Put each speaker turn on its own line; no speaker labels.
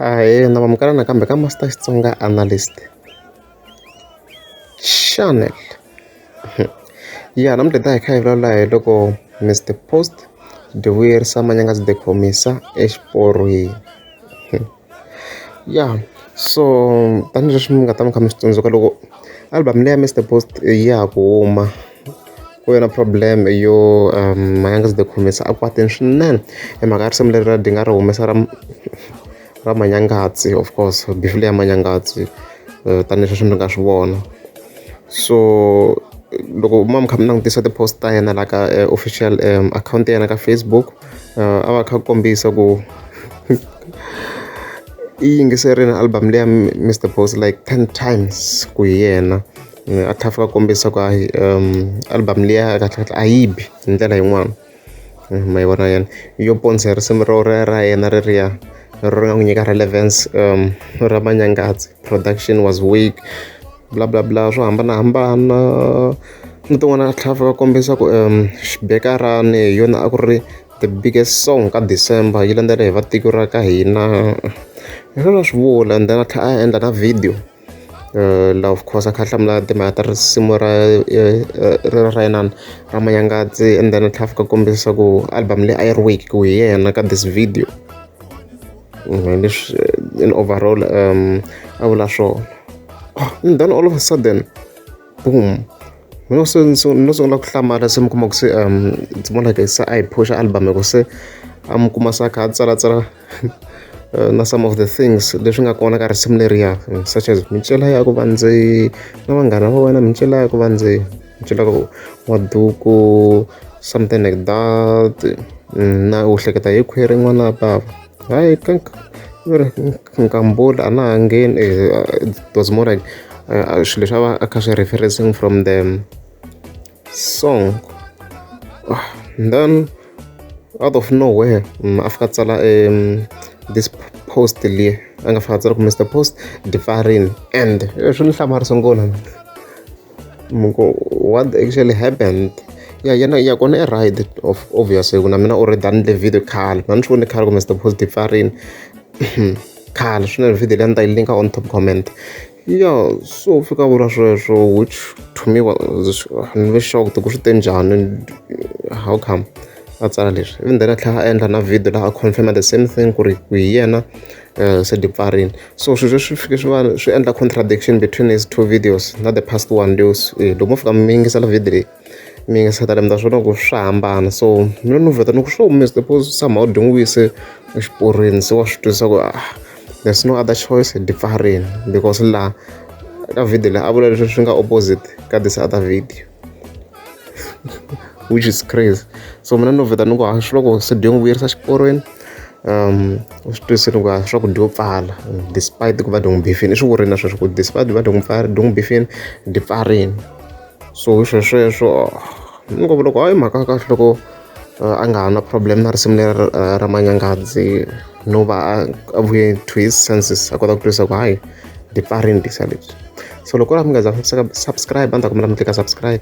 ahee na vamukela nakambe ka master xitsonga analyst channel ya namuntlha ta hi kha hi vulavula hi loko mr post divuyerisa manyanga byi dekhomisa exiporweni Ya so tanihileswi mi nga ta va mi kha mi swi tsundzuka loko album leyi ya Mister Boss ya ha ku huma ku ve na problem yo Mhangani The Khumisa a kwatile swinene hi mhaka ya risimu leriya a dinga a ri humesa ra ra Manyangatsi of course beef leyi ya Manyangatsi tanihileswi mi nga swi vona so loko mi va mi kha mi langutisa ti-post ta yena la ka official akhawunti ya yena ka Facebook. a va kha a kombisa ku i yingiserile album leyi ya Mister Boss like ten times ku hi yena a tlhela a fika a kombisa ku hayi album liya kahlekahle a yi bi hi ndlela yin'wana ma yi vona yena yo ponisa hi risimu ro ra ra yena reriya ri nga n'wi nyika relevance ra manyangazi production was weak. bla bla bla swo hambanahambana ni tin'wana a tlhela a fika a kombisa ku xibekani hi yona a ku ri the biggest song ka December yi landzela hi va tiko ra ka hina hi swona a swi vula and then a tlhela a endla na video la of course a kha a hlamula timhaka ta risimu ra ra inana ra manyangazi and then a tlhela a fika a kombisa ku album leyi a yi ri wake ku hi yena ka this video. hi leswi in overall um a vula swona ah, and then all of a sudden boom mina no sungula ku hlamala se mi kuma ku se um ndzi vona like se a hi phusha album hikuva se a mi kuma sa kha a tsalatsala eh, na some of the things leswi nga kona ka risimu leriya such as mincela ya ku va ndzi na vanghana va wena mincela ya ku va ndzi byi lava ku wa duku something like that na u hleketa hi khwiri n'wana wa bava hayi ka nkambula a na ha ngheni it was more like swilo leswi a va a kha swi referencing from the song ah, then out of nowhere mm, a fika tsala um this post leyi a nga fika tsala ku mr post difarini and swi ni hlamarisa ngona what actually happened ya yena ya kona i right of obvious hi ku na mina already a ni endle video khale mina ni swi vone khale ku Mister Positive pfa a rini khale swinene video leyi a ni ta yi linka on top comment ya so fika vula sweswo which to me ni ve shocked ku swi te njhani how come a tsala leswi even then a tlhela a endla na video laha a confirma the same thing ku ri ku hi yena se dipfarini so swilo leswi fike swi va swi endla contradiction between his two videos na the past one leos eh, loko mo fika mi yingisela video leyi mi yingisela lembi ta swona ku swa hambana so mina ni vheta ni ku swo miss the pose somehow dyi n'wi wise exiporweni se wa swi twisisa ku ah there's no other choice hi dipfarini because laha ka video leyi a vula leswi swi nga opposite ka this other video which is crazy so mina ni vheta ni ku hayi swi loko se dyo n'wi vuyerisa xiporweni um u swi twisini ku hayi swa ku dyo pfala despite ku va dyo n'wi bifini i swi vurile na sweswo ku despite va dyo n'wi pfala dyo n'wi bifini ndi pfarini so hi swesweswo ni ngo loko hayi mhaka ya kahle loko a nga ha na problem na risimu leri ra manyangadzi no va a vuye to his senses a kota ku twisa ku hayi ndi pfarini disa lebyi so loko ri a mi nga za subscribe a ni ta kombela mi tlika subscribe